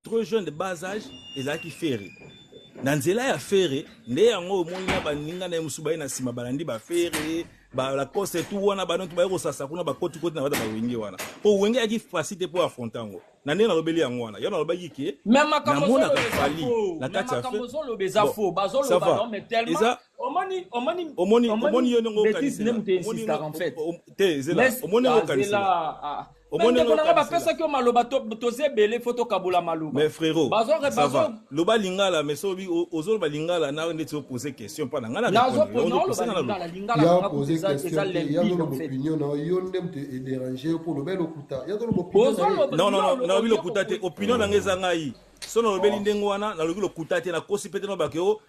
trop jeune de bas age ezalaki ferre na nzela ya ferre nde yango omoni na baninga na ye mosusu baye na nsima balandi bafere balacoste tu wana banonto baye kosasa kuna bakotikoti na bata bawenge wana mpo wenge ayaki fasi te mpo afronte yango na ndenge nalobeli yango wana yo nalobaki ke namonaka fali na kati yaomoni yo ndenge okanisela omoni ndenge okanisela bandeko na nga bapesaki yo maloba toza ebele fo tokabola maloba mais frérot loba lingala mais sobi ozoloba lingala na ndeti opose question mpa na ngai naoposeza lopinion na yo nde moto ederange yo mpo oloba elokuta nalobi lokuta te opinion na ngai eza ngai so nalobeli ndenge wana nalobi lokuta te nakosi mpe te nobake o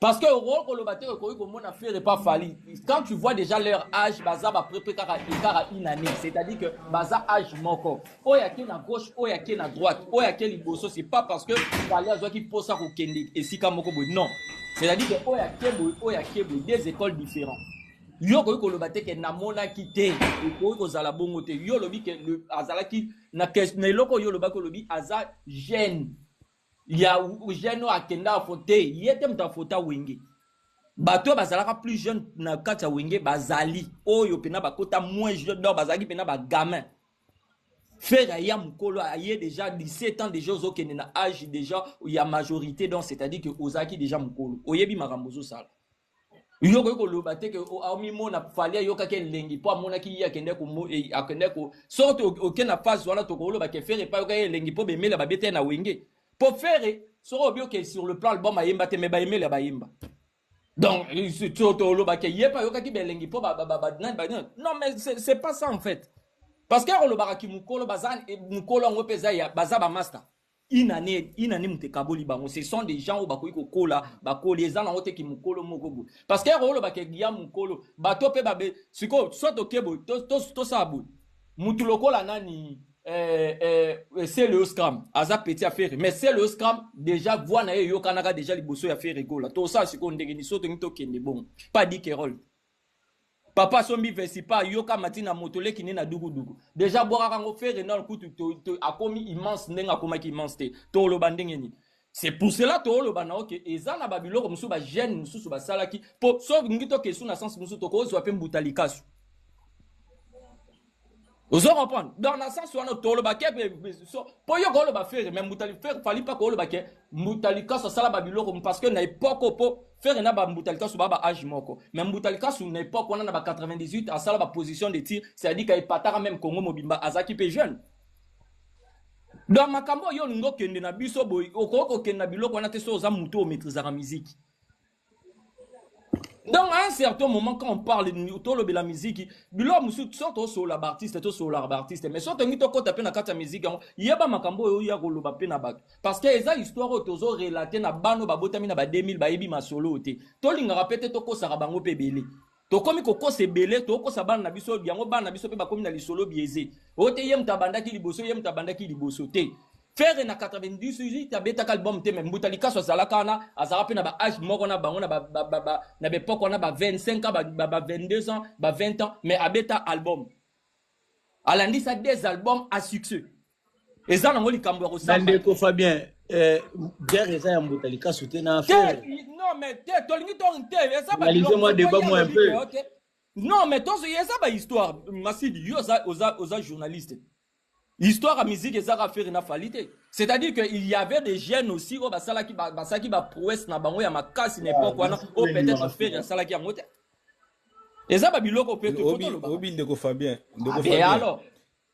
Parce que okoki koloba te okoki komona Ferre pas Fally. Quand tu vois déjà leur âge, baza ba prepare kaka écart à une année. C'est-à-dire que baza âge moko. Oyo ake na gauche, oyo ake na droite, oyo ake liboso, c'est pas parce que Fally azwaki posa ko kende esika moko boye. Non. C'est-à-dire que oyo ake boye, oyo ake boye, deux écoles différentes. Yo okoki koloba te ke namonaki te, okoki kozala bongo te. Yo olobi ke le- azalaki na kes- na eloko yo olobaki olobi aza jeune. ya jeune oyo akenda afote ye te moto afota wenge bato oyo bazalaka plus jeune na kati ya wenge bazali oyo mpena bakota moins jeune donc bazalaki mpena bagamin fere aya mokolo aye déjà 17 ans déjà ozokende na age déjà ya majorité donc c'est-à-dire que ozalaki déjà mokolo oyebi makambo ozosala yo okoki koloba te ke omimona fali ayokaki elengi mpo amonaki ye akende e, akende ko soki oke na phase wana tokoloba ke fere epai ayokaki elengi mpo bemela babeta ye na wenge mpo fere soki obioke sur le plan album ayemba te me bayemela bayemba donc toloba ke ye mpe ayokaki belengi mpo non mais c'est pas ça en fait parce que olobaka kimokolo baza mokolo yango mpe eza baza bamasta une annee une annee moto ekaboli bango ce sont des gens oyo bakoki kokola bakoli eza nango te kimokolo moko boye parce que ero olobaka ya mokolo bato mpe babe sikoyo soit toke boye tosala boye motu lokola nani eh, eh, eh selo scram aza petit ya ferre mais selo scram déjà voix na ye eyokanaka déjà liboso ya ferre gola tosala sikoyo ndenge ni so tolingi tokende bongo pas dikerol papa sombi vesipa yoka mati na moto leki nde na dukuduku deja abwakaka yango fere nol kutu to, to, akomi immense ndenge akomaki immense te toloba ndenge nini c'est pour cela tooloba na oke eza na babiloko mosusu bagene mosusu basalaki mpo soki ngi tokesu na sense mosusu tokozwa mpe mbuta likasu ozo comprendre dans la sens wana toloba ke mpo yo koloba fere mais mbutali fere fali mpa koloba ke mbutalikasi asala babiloko parce que na epoke mpo fere na bambutalikasu baa ba age moko mais mbutalikasu na epoke wana na ba 98 asala baposition de tir c'est-à-dire ka epataka meme congo mobimba azalaki mpe jeune donc makambo oyo olingi okende na biso boye okoki kokende na biloko wana te so oza moto oyo maîtrisaka miziki donc à un certain moment quand on parle tolobela miziki biloko mosusu so tosolola baartiste tosololaka baartiste mais so tongi tokɔta mpe na kati ya miziki yango yeba makambo oyo oya koloba mpe na bato parce que eza histoire oyo tozo relate na bana oyo babotami na ba 2000 bayebi masolo oyo te tolingaka mpe te tokosaka bango mpe ebele tokomi kokosa ebele tokosa bana na biso yango bana na biso mpe bakomi na lisolo biaise oyo te ye moto abandaki liboso ye moto abandaki liboso te ferre na 98 abetaka album te me mbuta likaso azalaka wana azalaka mpe na baage moko na bango na bepoke wana ba 25 ans ba 22 ans ba 20 ans me abeta album alandisa des albums a succès eza nango likambo ya kosamba ndeko fabien eh, guerre eza ya mbuta likasu te na affaire non mais te tolingi to te eza ba lise moi débat moi un peu non mais tozo eza ba histoire masidi yo oza oza oza journaliste histoire ya musique eza ka faire na fali te c'est-à-dire que il y avait des jeunes aussi oyo basalaki basalaki ba prouesse na bango ya makasi na époque wana oyo peut-être faire asalaki yango te eza ba biloko pe tokotoloba obi ndeko fabien ndeko ah, fabien alors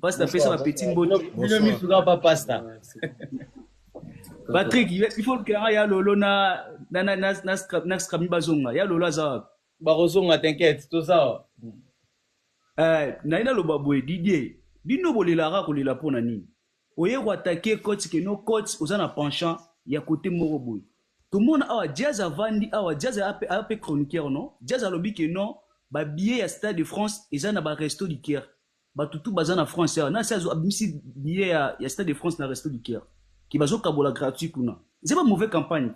Pasta pesa ba petit mbote. Bino mi suka pa pasta. Patrick, il faut que ya lolo na na na na na scrap na scrap mi bazonga. Ya lolo aza. Ba kozonga t'inquiète, to za. Euh, na ina loba boye Didier. Bino bolelaka kolela pona nini? Oye ko attaquer coach que no coach oza na penchant ya côté moko boye. tomona awa jazz avandi awa jazz aya mpe chroniqueur non jazz alobi ke non babillet ya stade de france eza na baresto liqueur Batu tout baza na France awa nasi azo abimisi billet ya, ya stade de France na respect du cœur ki bazo kabola gratuit kuna eza ba mauvais campagne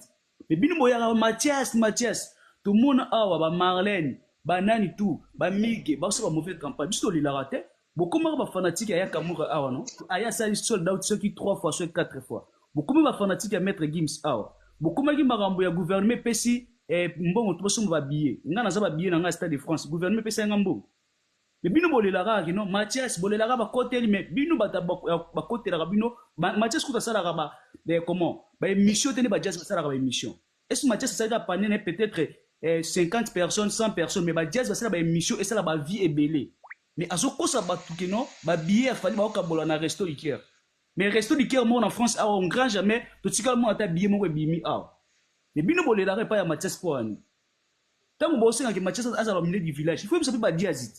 mais bino boyaka ba Mathias Mathias tomona awa ba Marlène ba nani tout ba Migue bazo ba mauvais campagne biso tolelaka te bokomaka ba fanatique ya Yakamura awa no aya sali sold out soki 3 fois soki 4 fois bokomi ba fanatique ya maître Gims awa bokomaki makambo ya gouvernement epesi eh, mbongo to bosomba ba billet nga naza ba billet na nga stade de France gouvernement epesa nga mbongo Mais bino bolela kaka que non Mathias bolela kaka ba koteli mais bino bata ba kotelaka bino Mathias kuta salaka ba eh, comment ba émission tene ba jazz ba salaka ba émission est-ce Mathias salaka panier ne peut-être eh, 50 personnes 100 personnes mais ba jazz ba salaka ba émission et salaka ba vie ebele mais azo kosa ba tout que non ba billets fallait ba okabola na resto Ikea mais resto du cœur moko en france awa on grand jamais totikala mona ata billet moko ebimi awa mais bino bolelaka epai ya mathias mpo wani Tango bo senga ke Mathias azala au milieu du village, il faut yebisa pe ba Diazit.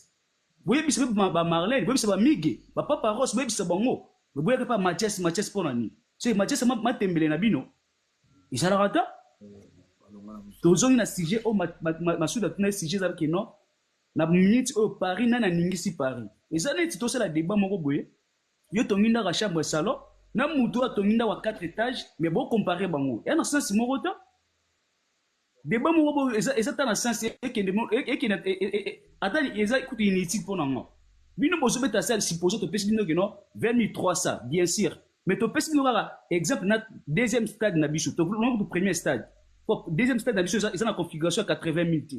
Bo yebisa pe ba, ba Marlene, bo yebisa ba Migue, ba Papa Ross, bo yebisa bango. Mais boyaka pa Mathias, Mathias pona nini? Soki Mathias ma, matembele na bino ezalaka ta. Tozongi na sujet oyo ma, ma, ma, Masuda tuna ye sujet ezalaki non na minute oyo Paris nani aningisi Paris. Eza neti tosala debat moko boye. Yo tongi ndako ya chambre ya salon na mutu oyo atongi ndako ya 4 etage mais bo comparer bango. Eza na sens moko ta. Debat moko bo eza eza tana sens ekende ekende ata eza kutu inutile pona ngo. Bino bozo beta sel supposons to pesi bino que non 20300 bien sûr. Mais to pesi bino kaka exemple na deuxième stade na biso. To non kutu premier stade. Po deuxième stade na biso eza eza na configuration ya 80000 te.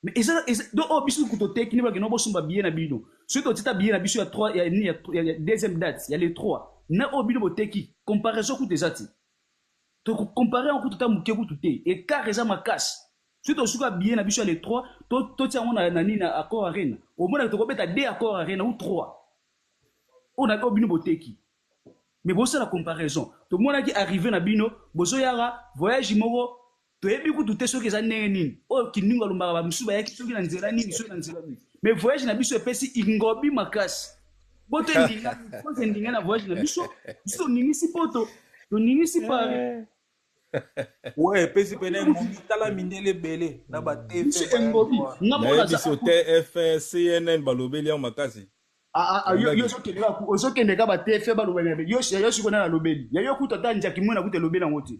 Mais eza eza do o biso kutu to teki ne ba que non bosumba billet na bino. Soki to tita billet na biso ya 3 ya ni ya deuxième date ya le 3 na o bino boteki comparaison kutu eza te. To ko comparer yango kutu ata muke kutu te. Ecart eza makasi. Soki to suka billet na biso ya le 3, to to tia yango na na nini na Accor Arena. Omona ke toko beta deux Accor Arena ou trois. Oyo na oyo bino bo teki. Mais bo sala comparaison. To monaki arrivee na bino, bozo yaka voyage moko to yebi kutu te soki eza ndenge nini. Oyo Kindingu alobaka ba misusu ba yaki soki na nzela nini, soki na nzela nini. Mais voyage na biso epesi ingobi makasi. poto endinga na voyage na biso biso toninisi poto toninisi pari we epesi pene momi tala mindele ebele na batemobi biso tfe cnn balobeli yango makasi ah, ah, ah, ozokende ka batfe balobeli yo sikoyo nani alobeli yayo kutu ata njaki mwena kutu elobeli yango te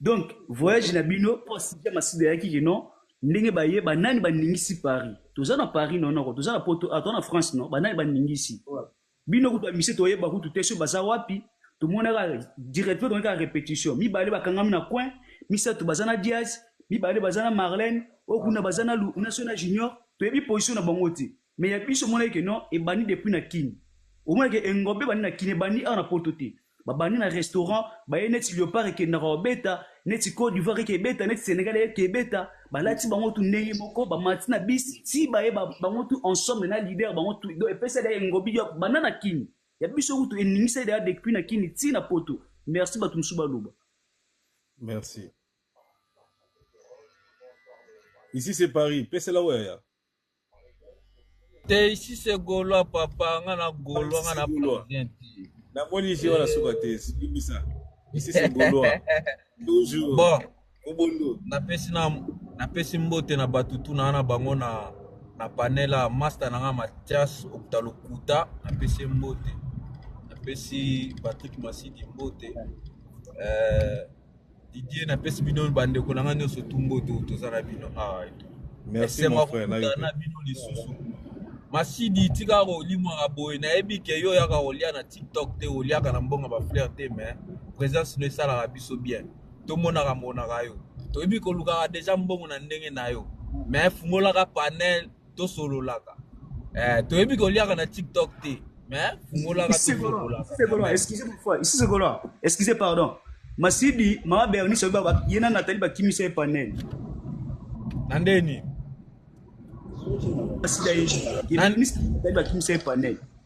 Donc voyage na bino po Cynthia Masidi ayaki que non ndenge baye banani baningisi Paris toza na Paris non noko toza na poto ah, toza na France non banani baningisi bino kutu bamise toyeba kutu te so baza wapi tomonaka directement tomonaki kaka repetition mibale bakangami na coin misato baza na Diaz mibale baza na Marlène oyo kuna baza na Lu- na so na Junior toyebi position na bango te Mais ya biso emonaki que non ebandi depuis na kin. Omona que engombe ebandi na kin ebandi awa na poto te. Ba bandi na restaurant baye neti leopard ekendaka kobeta neti cote d'ivoire eke ebeta neti senegal eke ebeta balati bango tu ndenge moko bamati na bis ti baye ba, bango tu ensemble na leader bango tu donc epesa da engobi ya banda na kin ya biso kutu eningisa da depuis na kin ti na poto merci bato mosusu baloba merci ici c'est paris pesela oyo ya te ici c'est gaulois papa nga na gaulois nga na parisien te namoni ici wana suka te bimisa ici c'est gaulois toujours bon obondo napesi na napesi mbote na bato tuna wana bango na na panela masta na nga matias okuta lokuta napesi mbote napesi patrick masidi mbote euh, Didier na pesi bino ba ndeko na nga nioso tumbo to toza na bino awa eto. Merci mon frère na yo. Na bino lisusu. Masidi tika ko limwa ka boye na yebi ke yo yaka ko lia na TikTok te o liaka na mbonga ba fleur te mais présence no esala ka biso bien. To mona ka mona ka yo. To yebi ko luka ka deja mbongo na ndenge na yo. Mais fungola ka panel tosololaka eh, toyebi koliaka na tiktok te mais fungolaka tosololaka ici c'est golois excusez pardon masidi mama bernice oyebi ye na natali bakimisa ye panel na nde nini masidi ayebi bakimisa ye panel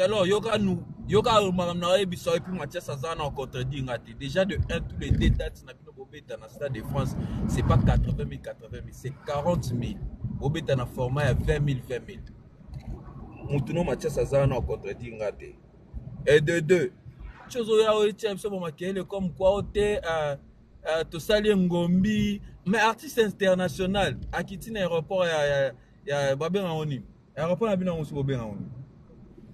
alors yoka nous yoka makambo na oyebisa yo epuis mathias aza na contredire nga te déjà de 1 tous les deux dates na bino bobeta na stade de france c'est pas 80 000 80 000 c'est 40 000 bobeta na format ya 20 000 20 000 motu no mathias aza na contredire nga te et de deux ti ozoya oyetia biso bamakele comme kua o te uh, uh, tosali engombi mais artiste international akiti na aéroport ya, ya, ya babenga ngo nini yaka mpo na bino yango soki obenga ngo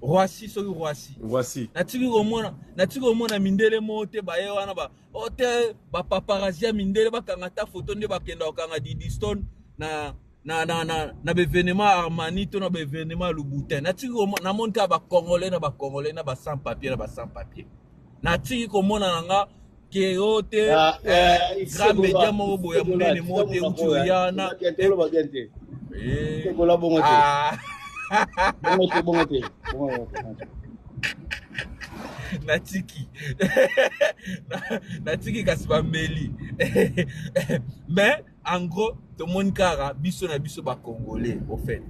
roisi soki roisi roisi natiki komona natiki komona mindele moko te baye wana ba o oh, te bapaparazi ya mindele bakanga ata foto nde bakenda kokanga didistone na na na na na baevenement ya armani to na baevenement ya louboutin natiki komona namoni kaka bacongolais na bacongolais na ba sans papier na ba sans papier natiki komona na nga keo te ah, eh, eh, grand media moko boya monene moko te uti oya na ekola bongo te ah. bongo te bongo te natiki natiki kasi bameli mais en gros tomoni kaka biso na biso ba congolais au fait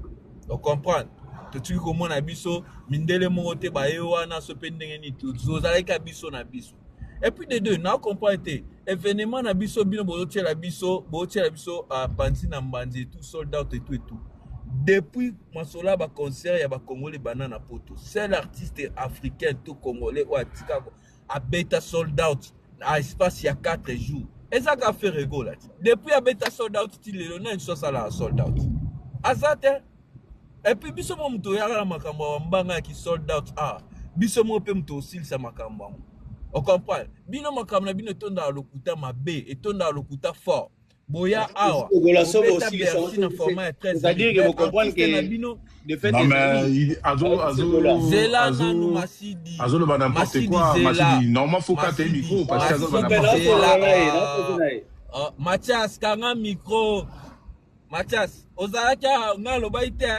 o comprendre totiki komona biso mindele moko te baye wana so mpe ndenge nini tozalaki ka biso na biso et puis de deux na comprendre te événement na biso bino bozotiela biso bozotiela biso uh, panzi na mbanzi etout sold out etout etout depuis masolo ya baconcert ya bacongolais banda na poto seul artiste africain to congolais oyo atikako abeta sold out na espace ya 4 jours eza ka ferre gola ti depuis abeta sold out ti lelo nani so asalaka sold out aza te epuis biso mo moto oyaka na makambo ya mbanga ya kisold out ah biso mo mpe moto osilisa makambo yango ocomprendre bino makambo na bino etondaka lokuta mabe etondaka lokuta fort boya awa obeta bercy na format ya 13 na bino zela nanu masidi azoloba n'importe quoi masidi normal faut kata ye micro parce que azoloba n'importe quoi ah, Mathias kanga micro Mathias ozalaki nga alobaki te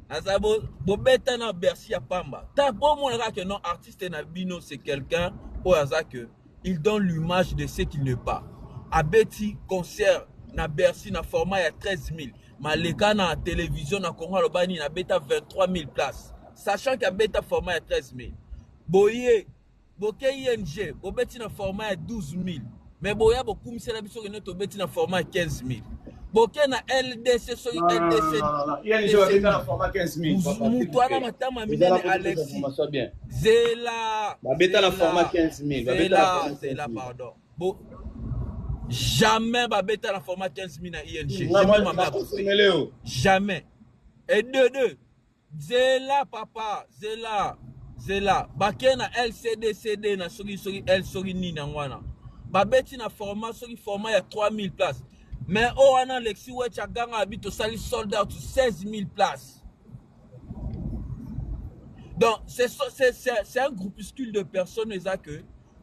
naza bobeta na bercy ya pamba ta bomonaka ke non artiste na bino c'est quelqu'un oyo aza que Il donne l'image de ce qu'il n'est pas. Abeti concert na Bercy na format ya 13000. Maleka na television na Congo aloba nini abeta 23000 places. Sachant que abeta format ya 13000. Boye boke ING bobeti na format ya 12000. Mais boya bokumisela biso que nous tobeti na format ya 15000. boke na ldc soki ldc moto wana matama minene alexi zela babeta na format 15000 zela pardon bo jamais babeta na format 15000 na ing jamais et deux deux Zela papa zela zela bake na LCD CD na soki soki L soki nini yango wana babeti na format soki format ya 3000 places mais oyo wana Alexis Wetch aganga abi tosali sold out 16000 places Donc, c'est un groupuscule de personnes, Isaac,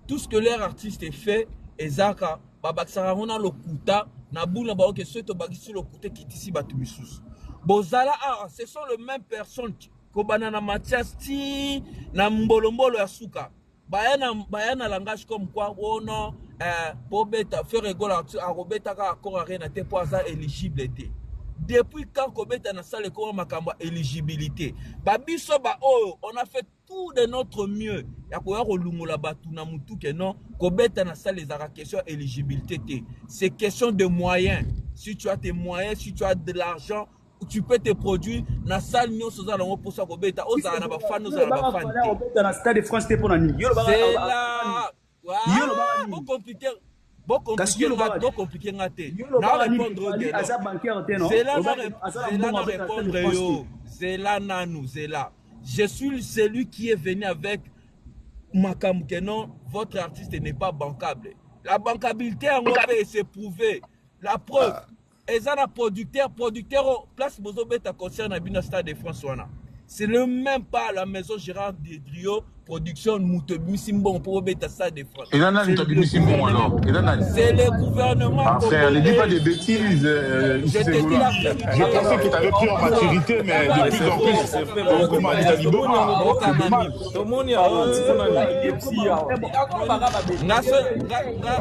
tout ce que leur artiste fait ezaka babakisaka yango na lokuta na buna bango ke soki tobakisi lokuta ekitisi bato misusu bozala awa ce sont le même personne kobanda na matias ti na mbolombolo ya suka baya na, baya na langage comme quoi wono oh eh, bobeta fere egola akobetaka accord arena te mpo aza éligible te depuis quand kobeta na sale ekoma makambo ya éligibilité babiso baoyo on a fait tout de notre mieux ya koya kolungola bato na motu ke non kobeta na sale ezalaka question ya éligibilité te c'est question de moyen si tu as tes moyens si tu as de l'argent tu peux te produire na salle nyonso oza nango mposa kobeta ozala na bafani ozala na bafani te obeta na stade de france te mpo na nini Yo, olobaka- zela Yo lobaka nini? Bo computer bo compliquer nga bo compliquer nga te na répondre te aza bancaire te non zela na zela na répondre yo zela nanu zela je suis celui qui est venu avec makambo que non votre artiste n'est pas bancable la bancabilité yango mpe se prouver la preuve ah. eza na producteur producteur oyo oh, place bozobeta concert na bino stade de france wana c'est le même pas la maison gérard dedrio production moto ebimisi mbongo mpo bobeta stade de france eza nani moto abimisi mbongo alors eza nani c'est le gouvernement ah, frère ne dis pas des bêtises euh, je te dis la vérité je pensais que t'avais pris en maturité mais de plus en plus okoma alita liboma tomoni awa ntikona nani nga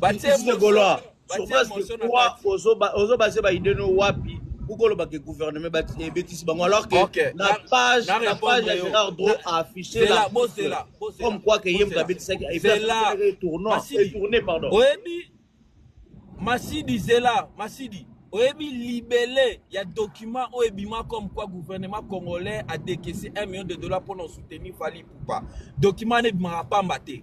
Baptiste le Gaulois, sur base de quoi ozo base ba idée no wapi kukoloba ke gouvernement ebetisi bango alors que okay. na page na, na page ya Gérard Dro a affiché la bosela comme quoi que ye moto abetisaki tournoi tourné pardon oyebi Masidi zela Masidi oyebi libele ya document oyo ebima comme quoi gouvernement congolais a décaissé 1 million de dollars mpo na soutenir Fally Ipupa document wana ebimaka pamba te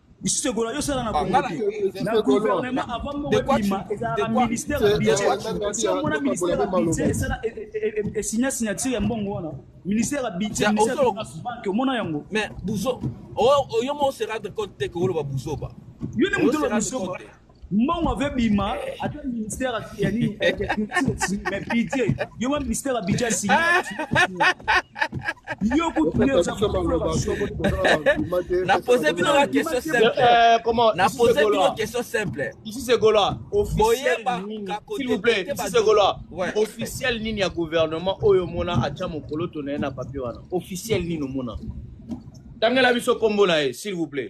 lisusu egola yo sala na kongo ah, te na gouvernement avant moko ebima ezalaka ministère ya budget si omona ministère ya budget esala esigna e, e, e, signature ya mbongo wana ministère ya budget ministère ya banque omona yango mais buzo oh, oh, yo mo se rendre compte te que oloba buzoba yo nde moto oloba buzoba mbongo ave bima ata ministère ya nini mais pidie yo ma ministère ya bidja sigi yo kutunapose bino ba question simpleapose eh, bino question simple ici c'est gola s'il vous plaît ici c'est gola officiel nini ya gouvernement oyo omona atya mokolo to na ye na papier wana officiel nini omona tangela biso nkombo na ye s'il vous plaît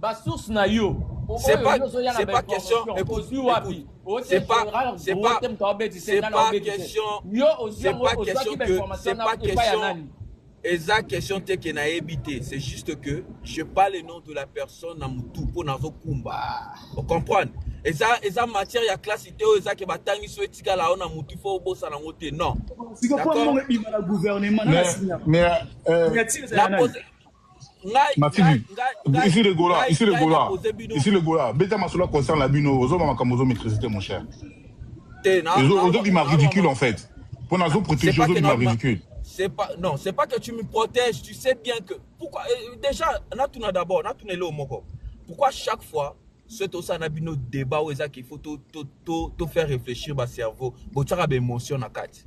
Ba source na yo. C'est pas, c'est pas question. Écoute, écoute. C'est pas, c'est pas, c'est pas question. C'est pas question que, c'est pas question. eza question te ke nayebi te c'est juste que je parle le nom de la personne na motu mpo nazokumba ocomprendre eza eza matière ya classe te oyo eza ke batangisi oyo etikala yo na motu fo obosana yango te non Masidi, ici le Gola, ici le Gola, ici le Gola. Beta masolo concerne la bino, ozo ma makambo ozo maîtriser te mon cher. Ozo ozo bima ridicule en fait. Pour nous ozo protéger ozo bima ridicule. C'est pas non, c'est pas que tu me protèges, tu sais bien que pourquoi euh, déjà na tuna d'abord, na tuna le moko. Pourquoi chaque fois ce tout ça na bino débat ou ezaki il faut tout tout tout faire réfléchir ba cerveau, botsaka ba émotion na carte.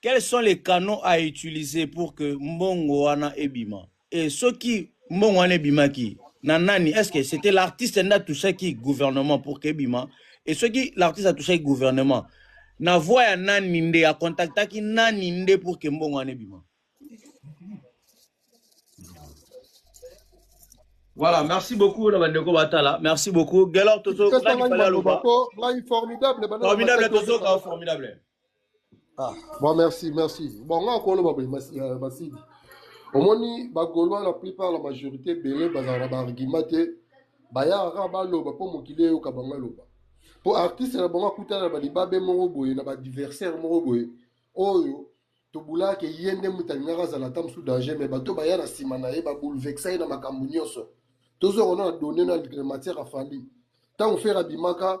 Quels sont les canaux à utiliser pour que mbongo wana ebima? Et soki mbongo wana ebimaki na nani? Est-ce que c'était l'artiste nda touchaki gouvernement pour que ebima? Et soki l'artiste a touchaki gouvernement, na voix ya nani nde a contactaki nani nde pour que mbongo wana ebima? Voilà, merci beaucoup na bandeko batala. Merci beaucoup. Gelor Toto, Pesa nani ngai fallait maloba aloba? ko ngai formidable bana na Formidable maseke Toto, ozoka. formidable. Ah, bon, merci, merci. Bon, nga ko loba boye mas- eh, masidi. Omoni ba Gaulois la plupart la majorité belé bazala na ba argument te. Baya kaka baloba mpo mokili eyoka bango aloba. Mpo artiste na bango akutana na balibabe moko boye na badiversaire moko boye oyo tobulaka ke ye nde moto alingaka azala ata mosusu danger me bato baya na nsima na ye baboulvexa ye na makambo nyonso. Tozonga na donne na matière afali. Ntango fere abimaka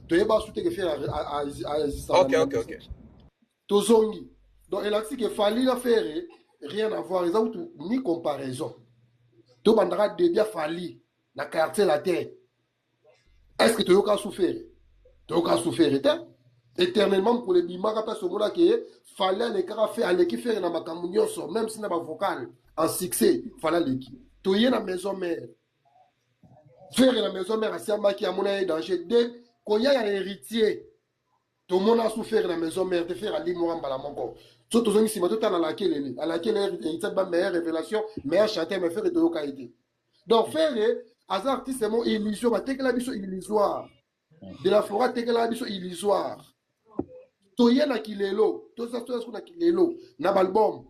toyeba asu te ke fere aexista okay, okay, okay. tozongi donc elakisi ke fali na fere rien à voir eza kutu ni comparaison tobandaka debi ya fali na quartier latin est ce que toyoka asu fere toyoka asu fere te éternellement mokolo ebimaka mpe asomona ke fali alekaka fe aleki fere na makambo nyonso même si na bavokale en succès fali aleki toye na maison mare Ferre na maison mère asiambaki amona ye danger de koya ya héritier tomona su Ferre na maison mère te Ferre alimwaka mbala moko so tozongi nsima totala alakelele alakelele héritier ba meilleure révélation meilleur chanteur mais Ferre toyoka ye te donc Ferre aza artiste mo illusion batekela biso illusoire de la foret atekelaka biso illusoire toye na kilelo toza toza siko na kilelo na balbum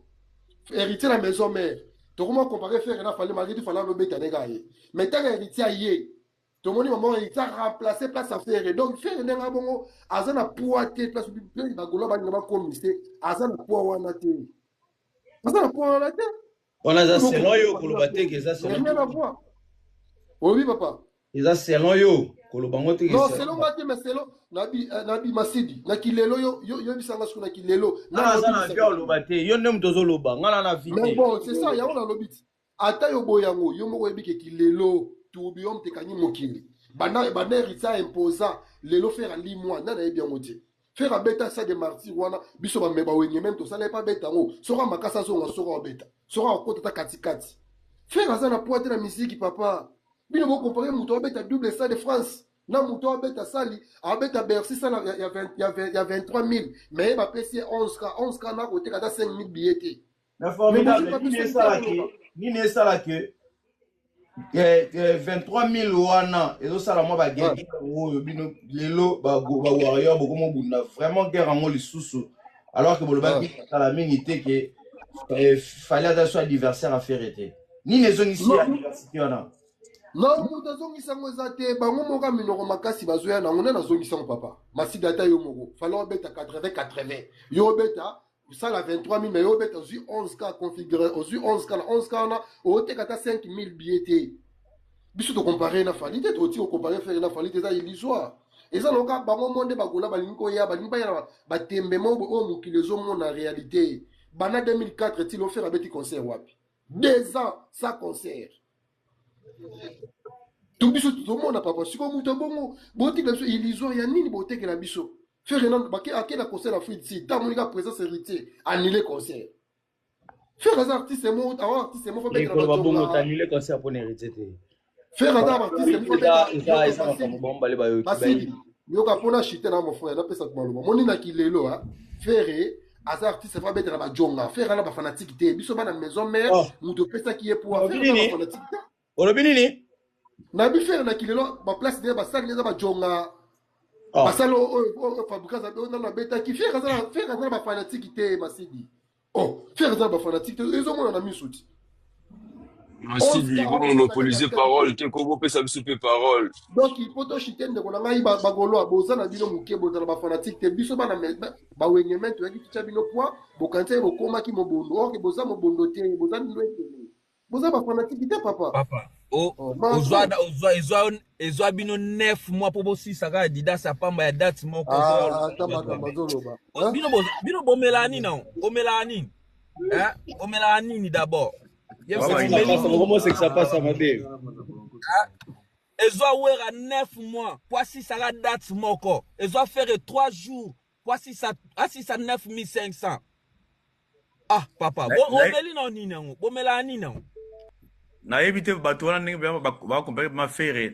héritier na maison mère tokoma compare fere na fale malgré tu fale alobeta ndenge aye mais ntango héritier aye tomoni mama héritier aremplace place ya fere donc fere ndenge abongo aza na poids te place bagolo balinga bakomise aza na poids wana te aza na poids wana te wana eza selon yo koloba te ke eza selon oyebi papa eza selon yo koloba ngo te non selon nga te mais selon eh, na bimasidi na kilelo yo yebisa nga soki na kilelo naza na vie oloba te yo nde moto ozoloba nga na na vie mais bon c'est ça yango nalobi ti ata yo boye yango yo moko oyebi ke kilelo tourbillon tekangi mokili banda banda erisa imposa lelo fera limwa nani ayebi yango te Ferre abeta sa de martyr wana biso ba meba wenye même to sala pas beta ngo soka makasa zonga soka beta soka akota ta kati kati Ferre aza na poids na musique papa bino bo comparer muto abeta double sa de France na moto abeta sali abeta bercy sala ya, ya, ya, ya 23 000 mais ye bapesi ye 11 ka 11 ka nakoteka ata 5 000 billet te Mais formidable, nini esala ke, nini esala ke, eh, eh, 23000 wana ezosala mwa bagege yango oyo bino lelo bawarrior bokoma obunda vraiment guerre yango lisusu alors ke bolobaki kala mingi te ke eh, fali ata so adversaire afere te nini ezongisi ya diversité wana na moto azongisa yango eza te bango moko ya minoko makasi bazoya nango nani azongisa yango papa masida ata yo moko fala obeta 80 80 yo obeta osala 23000 mais yo obeta ozwi 11 ka configure ozwi 11 ka na 11 ka wana oteka ata 5000 billet te biso tocompare na fali te toti ocompare fere na fali te eza illusoire eza loka bango mo nde bagola balingi koya balingi baya na batembe mo oyo oh, mokili ezomona réalité bana 2004 ti lofere abeti concert wapi deux ans sa concert to biso tozomona papa sikoyo moto ya bongo botikela biso illusion ya nini botekela biso ferre nano bake akenda concert na free si ntango monika présence héritier annule concert ferre aza artiste mo awa artiste mo fabetela mikolo babongo batonga tanule concert mpo na héritier te ferre aza artiste mo eza eza eza makambo bango bale bayoki basili bayebi yoka mpo na chute na mofrère napesa maloba moni na kilelo a ferre aza artiste va betela ba jonga faire ala ba fanatique te biso bana maison mère oh. mutu opesaki ye pour affaire ba fanatique te olobi nini na bi faire na kilelo ba place de ba salle eza ba jonga oh. ba salle oyo oh, oh, oh, fabrica za na na betaki faire aza faire aza ba fanatique te masidi oh faire aza ba fanatique te ezo mona na misuti masidi bomonopolise parole te ko bopesa biso mpe parole donc po toshite ndeko na ngai bagoloa boza na bino moke bozala bafanatike te biso bana bawengemen toyaki titya bino poi bokanisa ye bokomaki mobondo orke boza mobondo te boza bino etele boza bafanatike te papa, papa. Oh, oh, ezwa bino 9 mois mpo bosisa kaka didas ya pamba ya date moko ah, bino bomelaa nini bomelaa nini Hein? Omelaka nini d'abord? ezwa wera 9 mois mpo asisaka date moko ezwa fere 3 jours mpo asisa 9500 ah papa bomeli na nini yango bomelaka nini yango nayebi te bato wana ndenge bakompare ma fere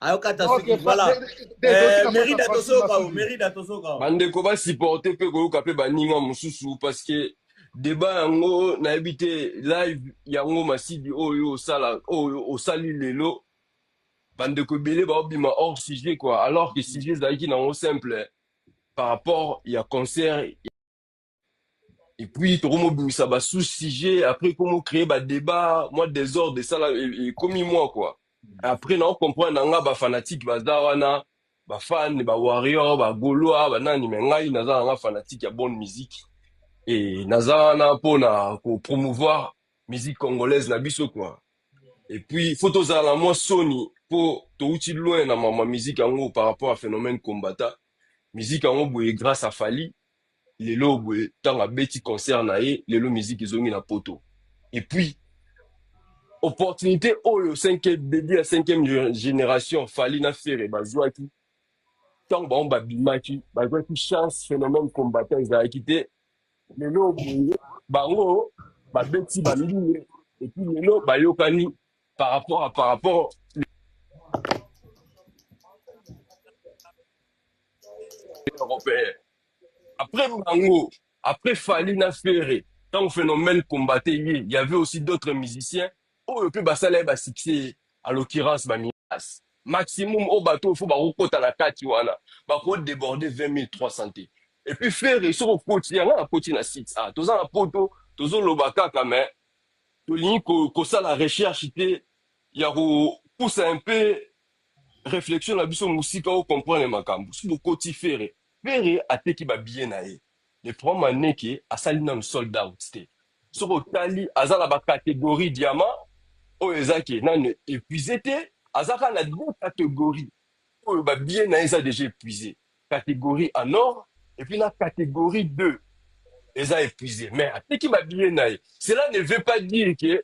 ayokata soki voilà eh, merida tozoyoka o merida tozoyoka o bandeko basupporte mpe koyoka mpe baninga mosusu parce que deba yango nayebi te live yango masidi oyo osala oyo osali lelo bandeko ebele baobima hors sujet quoi alors que sujet ezalaki nango simple par rapport ya concert et puis tokomobimisa ba sous sujet après komo créer ba débat moi désordre esala e- ekomi moi quoi après nao comprendre na nga ba fanatique baza wana ba fan ba warrior ba golois ba nani mais ngai naza na nga fanatique ya bonne musique et naza wana mpo na ko promouvoir musique congolaise na biso quoi et puis faut tozala na mwa soni mpo touti loin na mama musique yango par rapport à phénomène combata musique yango boye grâce à Fally Lelo oyo boye tango abeti concert na ye lelo musique ezongi na poto et puis opportunite oyo cinquième debut ya cinquième generation Fally na Ferre bazuaki tango bango babimaki bazuaki chance phenomène combattant ezalaki te lelo oyo boye bango babeti ba mbine et puis lelo bayokani par rapport à par rapport européen après bango après Fally na Ferre tant phénomène combattait ye il y avait aussi d'autres musiciens oyo pe basala ye ba succès à l'occurrence ba Midas maximum au bateau faut ba kota na kati wana ba ko déborder 20300 te et puis Ferre soko koti yanga na koti na site ah toza na poto tozo loba kaka mais tolingi ko- kosala recherche te ya kopusa un peu reflexion na biso musika o comprendre makambu soki bokoti ferre ferre ateki ba billet na ye le problème en est que asali nanu sold out te soki otali aza na ba categorie diamant oyo eza ke nanu epuise te aza kaka na deux categorie oyo ba billet na ye eza dejà epuise categorie en or et puis na categorie deux eza epuise mais ateki ba billet na ye cela ne veut pas dire que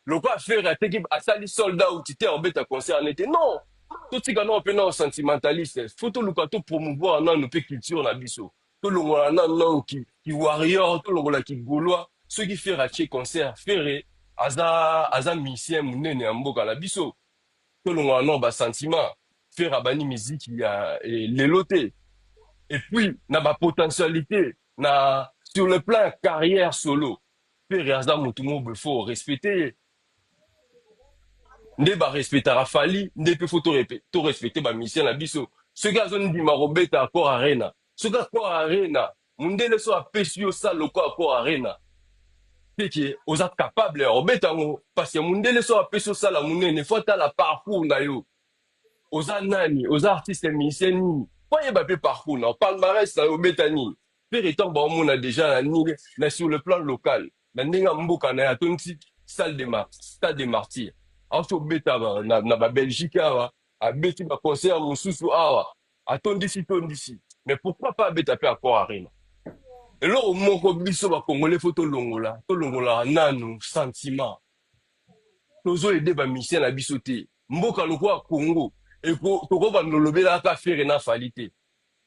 Lokola ferre ateki asali sold out te akobeta concert wana te non totika nao mpe nao sentimentalistes faut toluka to promouvoir nanu mpe culture na biso tolongola nanu nao ki, ki warrior tolongola ki golois soki ferre atie concert ferre aza aza musicien munene ya mboka na biso tolongola nao ba sentiment ferre abandi miziki ya eh, lelo te et puis na ba potentialite na sur le plan ya carrière solo Ferre aza mutu moko boye faut respecter ye nde ba respectaka Fally nde pe faut to respecter ba musiciens na biso soki azo ndima ko beta accord arena soki accord arena mundele soki apesi yo salle lokola accord arena c'est que oza capable ya ko beta yango parce que mundele soki apesi yo salle ya munene faut atala parcours na yo oza nani oza artiste musicien nini faut ayeba pe parcours na yo palmarès na yo obeta nini Ferre tango bao mona dejà na nini mais sur le plan local na ndenge ya mboka naye atondisi salle de ma stade de martyrs auti kobeta ba na na ba Belgique awa abeti ba concert mususu awa atondisi tondisi mais pourquoi pas abeta pe accord arena eloko moko biso ba congolais faut tolongola tolongolaka nanu sentiment tozo aide ba musiciens na biso te mboka lokola Congo eko tokobanda olobela aka Ferre na Fally te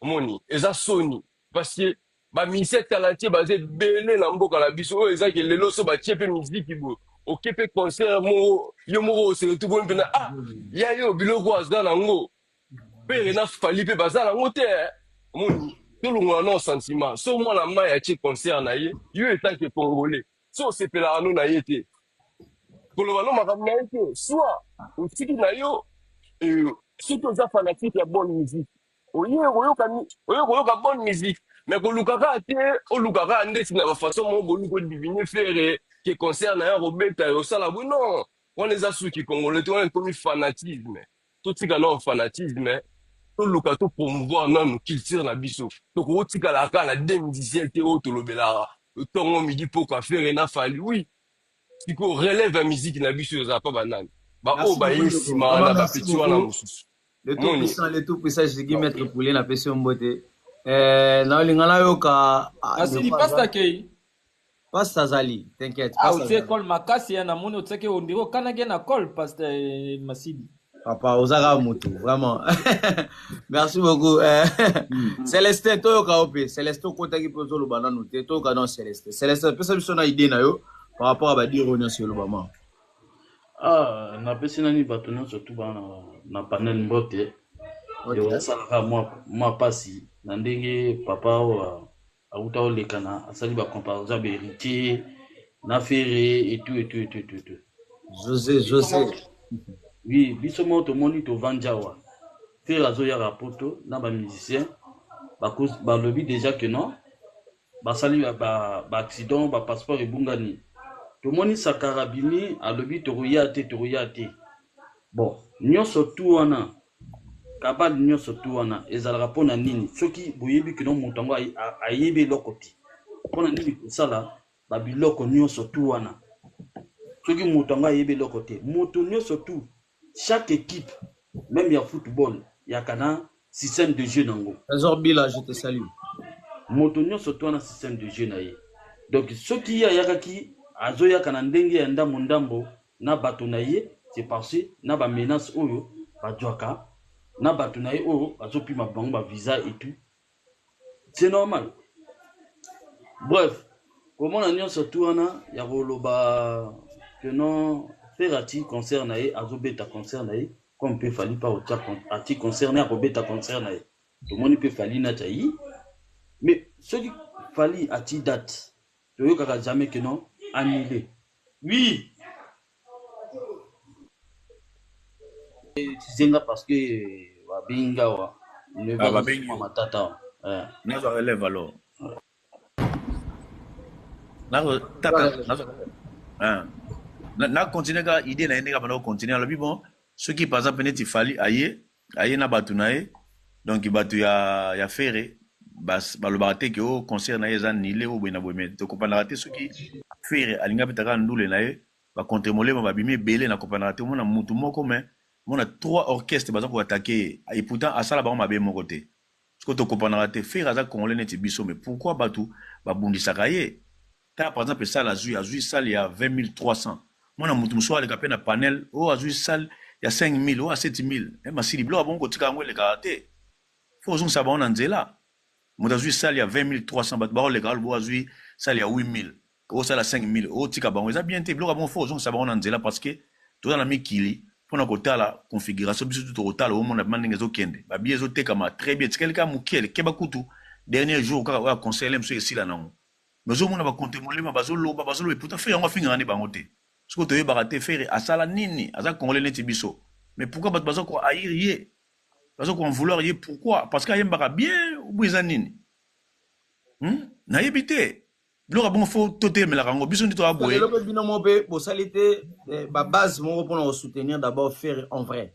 Omoni eza soni parce que ba musiciens talentueux baza ebele na mboka na biso oyo eza ke lelo so batie pe miziki boye oke pe concert moko yo moko o se retrouve omoni mpena ah ya yo biloko aza na ngo pere na fali pe baza na ngo te eh. omoni tolongola nao sentiment so mwana mai atie concert na ye yo etant ke congolais so osepelaka no na ye te koloba no makambo na ye te soit otiki na yo eh, soki oza fanatique ya bonne musique oye koyoka ni- oye koyoka bonne musique mais koluka kaka te oluka kaka ndeti na bafaçon moko boluki odivine fere ke concert na yo kobeta yo osala bwe non wana eza suki congolais te wana ekomi fanatisme totika nao fanatisme toluka to promouvoir nanu culture na biso tokoki otikala kaka na 2017 te oyo tolobelaka ntongo midi pokwa fere na fali oui sikoyo relève ya miziki na biso ezala mpa banani baoyo Merci beaucoup baye ndeko. nsima Vraiment wana merci bapeti wana beaucoup. mosusu le tout puissant le tout puissant je suis maître poulet na pesi mbote eh na olinga na yoka ah, asili pasta kei pasta azali t'inquiète ah otie col makasi ya na moni otiaki ondire okanaki na col pasta eh, masidi papa ozaka mutu vraiment merci beaucoup eh, hmm. celestin toyoka yo mpe celestin okotaki mpe ozoloba nanu te toyoka nao celestin celestin pesa biso na idée na yo par rapport ya badiro nyonso elobama Ah, napesi nani bato nyonso tu bana na panel mbote eosalaka mwa mpasi na ndenge papa oyo awuta olekana asali bacomparaison ya baheritier na fere etu etu etu etu etu jose jose oui biso moko tomoni tovandi awa fere azoyaka poto na bamusicien balobi déjà que non basali ba ba accident ba passeport ebungani tomoni sakara abimi alobi tokoya te tokoya te bon nionso tu wana kabal nionso tu wana ezalaka pona nini soki boyebi kino moto yango ayebi eloko te pona nini kosala ba biloko nionso tu wana soki moto yango ayebi eloko te moto nionso tu Chaque equipe meme ya football yaka na système de jeu nango. Trésor Bila je te salue. Moto nionso to na système de jeu na ye. Donc soki ye ayakaki azoyaka na ndenge ya ndambo ndambo na bato na ye c'est parce que na ba menaces oyo bazwaka na bato na ye oyo bazopima bango ba visa et tout C'est normal. Bref, komona nyonso tu wana ya koloba que non Ferre ati concert na ye azobeta concert na ye comme pe Fally pa otia ati concert na ye akobeta concert na ye tomoni pe Fally na Chayi mais soki Fally ati date toyokaka jamais que non annule oui Zenga parce que babengi nga awa. Ah, babengi yo. Matata awa. Eh. Nazo relève alors. Nazo tata nazo. Ah. Na, na continuer ka idée na ye ndenge abanda ko continuer alobi bon soki par exemple neti fali aye aye na batu na ye donc batu ya ya fere bas balobaka te ke o concert na ye eza nile o boye na boye mais tokopanaka te soki fere alingi abeta kaka ndule na ye ba contre molema babimi ebele na kopanaka te omona mutu moko mais omona trois orchestre baza ko attaquer ye et pourtant asala bango mabe moko te siko tokopanaka te fere aza congolais neti biso mais pourquoi batu babundisaka ye Tala par exemple salle azui, azui salle ya 20300. Mwana mutu mususu aleka pe na panel, oh azui salle ya 5000, oh a 7000. Eh masili biloko abongo kotika yango eleka te. Faut ozongisa bango na nzela. Mutu azui salle ya 20300 batu bao leka alobo azui salle ya 8000. Oh salle ya 5000, oh tika bango eza bien te. Biloko abongo faut ozongisa bango na nzela parce que toza na mikili pona kotala configuration biso tout tokotala omona bima ndenge ezokende babiye ezotekama très bien etikali kaka moke keba kutu dernier jour kaka oyo conseil biso esila nango Nozo mona ba compte molema bazo loba bazo loba pourtant Ferre yango afingaka nde bango te. Siko toyebaka te Ferre asala nini aza congolais neti biso. Mais pourquoi bato baza ko haïr ye baza ko en vouloir ye pourquoi parce que ayembaka bien ou bien eza nini hmm? nayebi te biloko bongo fo toteyemelaka yango biso nde toya boye lelo mpe bino moko mpe bosali te eh, babase moko mpona kosoutenir d'abord ferre en vrai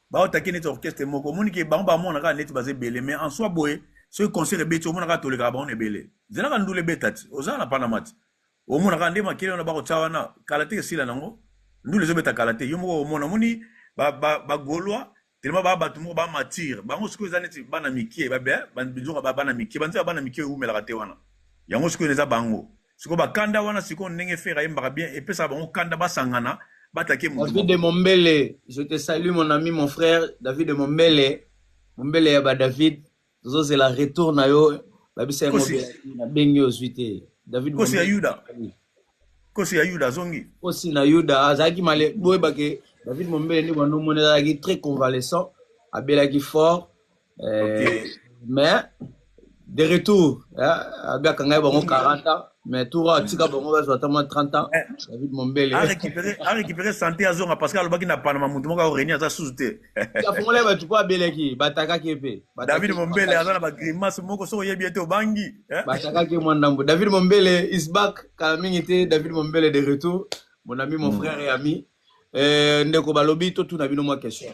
baotaki neti orchestre moko omoni ke bango bamona kaka neti baza ebele mais en soi boye soki concert ebeti omona kaka tolekaka bango na ebele zelaka ndula ebeta ti oza na panama ti omona kaka nde makele wana bakotya wana kala te esila nango ndula ezobeta kala te yo moko omona omoni bagolois telema baa bato moko bamatire bango sikoyo eza neti bana mikie babe eh, bizoka bana mikie banzela bana mikie eumelaka te wana yango sikoyo eza bango siko ba kanda wana siko ndenge fera yembaka bien epesa bango kanda basangana batake mutu David de Mombele je te salue mon ami mon frère David de Mombele Mombele ya ba David tozo zela retour na yo babisa yango na bengi ozwi te David Kosi ya Yuda Kosi ya Yuda zongi Kosi na Yuda azalaki male boyebake David Mombele nde bando mona azalaki très convalescent abelaki fort Eh, okay. mais de retour abiaka ngai bango 40 ans mais tour atika bango bazwa ata mwa 30 ans eh. david mombele arécupéré santé azonga parce que alobaki na panama moto moko aoreni aza susu te afungolaki bato mpo abeleki batakaki mpe david mombele aza na bagrimace moko soki oyebi ye te obangi eh? batakaki mwa ndambo david mombele is back kala mingi te david mombele de retour mon ami mon hmm. frère et ami eh, ndeko balobi totuna bino mwa question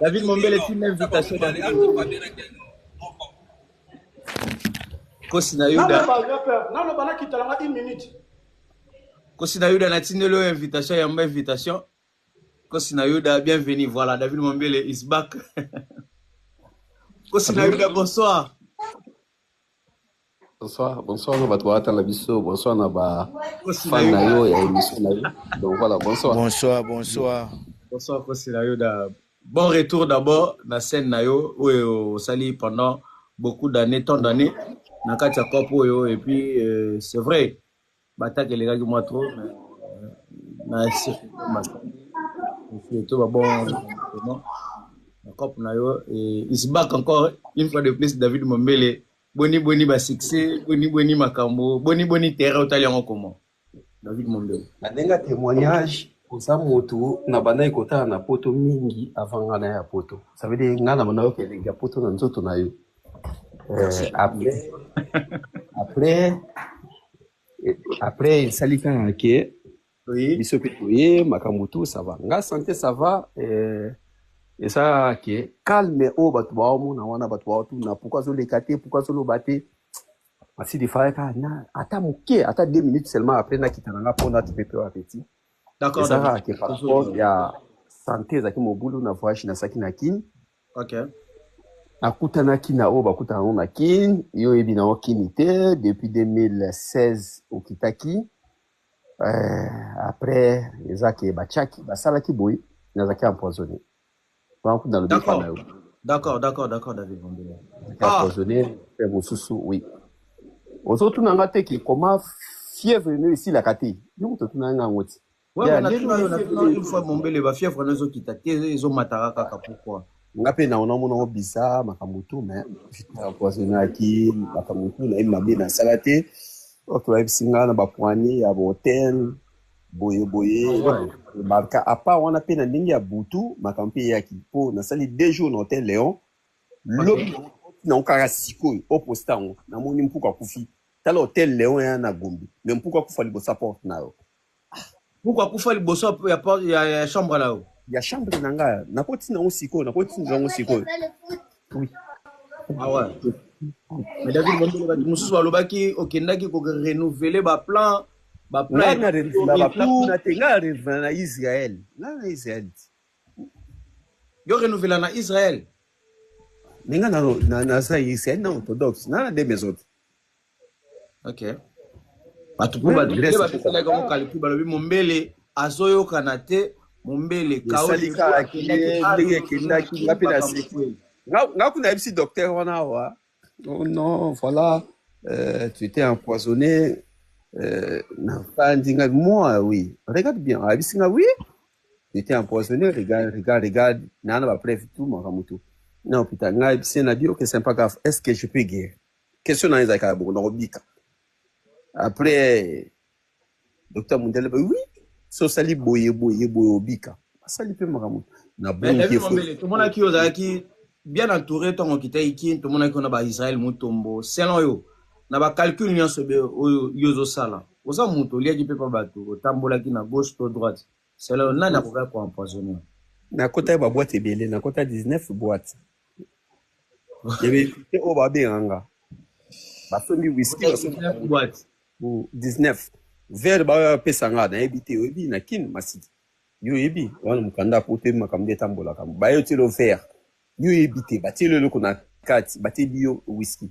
David Mombele, tu m'invitation. Kosi na Yuda. Non, non, bana kitala nga une minute. Kosi na Yuda na tindelo invitation ya mba invitation. Kosi na Yuda, bienvenue. Voilà, David Mombele is back. Kosi na Yuda, bonsoir. Bonsoir, bonsoir na bato baata na biso, bonsoir na ba fan na yo ya émission na yo. Donc voilà, bonsoir. Bonsoir, bonsoir. Bonsoir Kosi na yo da. Bon retour d'abord na scène na yo oyo osali pendant beaucoup d'années, tant d'années na kati ya COP oyo et puis euh, c'est vrai Bataki elekaki mwa trop na to babongo na cop na yo is back encore une fois de plus David Mombele boni boni ba succès boni boni makambo boni boni terrain otali yango comment David Mombele na ndenge ya témoignage oza motu na bandaki kotala na poto mingi avant nga na ya poto ça veut dire nga na bandaki okende ya poto na nzoto na yo Euh, après, après, après, il s'allie quand même, ok. Oui. Biso pe toye, makambo tout, ça va. Nga santé, ça va. Euh, et ça, ok. Calme, oh, batu ba omo, na wana, batu ba otu, na pourquoi zo lekate, pourquoi zo lobate. Asi de faya ka, na, ata moke, ata deux minutes seulement après, na kitana nga, pona, tu peux peu appétit. D'accord, Ezalaka d'accord. ke par rapport ya sante ezalaki mobulu na voyage nasalaki na kin Okay. nakutanaki na oyo bakutana ngo na kin yo oyebi na okini te depuis 2016 okitaki euh, après eza ke bachaki basalaki boye nazalaki empoisonné bakutana lobi epa na yo d'accord d'accord d'accord david bombele ah. empoisonné mpe mosusu oui ozotuna nga te ke koma fièvre no esilaka te yo moto otunanga yango ti Ouais, yeah, mais natuna yo natuna une fois mombele ba fièvre na ezo kita te ezo mataka kaka pourquoi nga mpe na ona mona obisa makambo tu me empoisonnaki makambo tu nayebi mabe nasala te oke bayebisi nga na bapoignet ya botel boye boye barka apart wana mpe na ndenge ya butu makambo mpe eyaki mpo nasali deux jours na hotel leon lobi nango kaka sikoyo oposta yango namoni mpuku akufi tala hotel leon ya na gombi me mpuku akufa liboso ya porte na yo Pourquoi kufa liboso ya porte ya, ya chambre na yo? Ya chambre na nga nakoti nango sikoyo, nakoti nango sikoyo. Oui. Ah ouais. Mais David Mombele bato mosusu balobaki okendaki ko renouveler ba plan ba plan. Nga na renouveler ba plan kuna te, nga na renouveler na Israël. Nga na Israël. Yo renouveler na Israël. Mais nga na na na Israël, na orthodoxe, na na deux maisons. Okay. bato mpo badresse bapesalaki yango kalkul balobi mombele azoyokana te mombele kaosalikaaki ye ndenge ekendaki nga mpe naseki nga kuna yebisi docteur wana awa oh non voilà euh, tu étais empoisonné euh, nafandi nga moi oui regarde bien ayebisi nga oui tu étais empoisonné regarde regarde regarde naa na bapreuve tout makambo tout na hôpital nga yebisi ye na bio ke sympa grave est ce que je peux guérir Question na ezalaka ya bongo na kobika. Après Docteur Mundele ba oui so sali boye boye boye obika. Asali pe makambo na Mais bongi David efo. Mambele, tomonaki yo ozalaki bien entouré ntango okitaki Kin, tomonaki yo na ba Israël Mutombo. Selon yo, na ba calcul nyonso be- oyo yo ozosala, oza moto oliaki mpe pa bato, otambolaki na gauche to droite. Selon yo, nani akokaki ko empoisonner yo? Nakotaki ba boîte ebele, nakota 19 boîte. ya baekute oyo babenga nga basombi wiski basombi 19 vere baoyo bapesa nga nayebi te oyebi na kin masiki yo oyebi wana mokanda po toyebi makambo nde etambolaka baye otyelo vere yo oyebi te batyeli eloko na kati batyeli yo wiski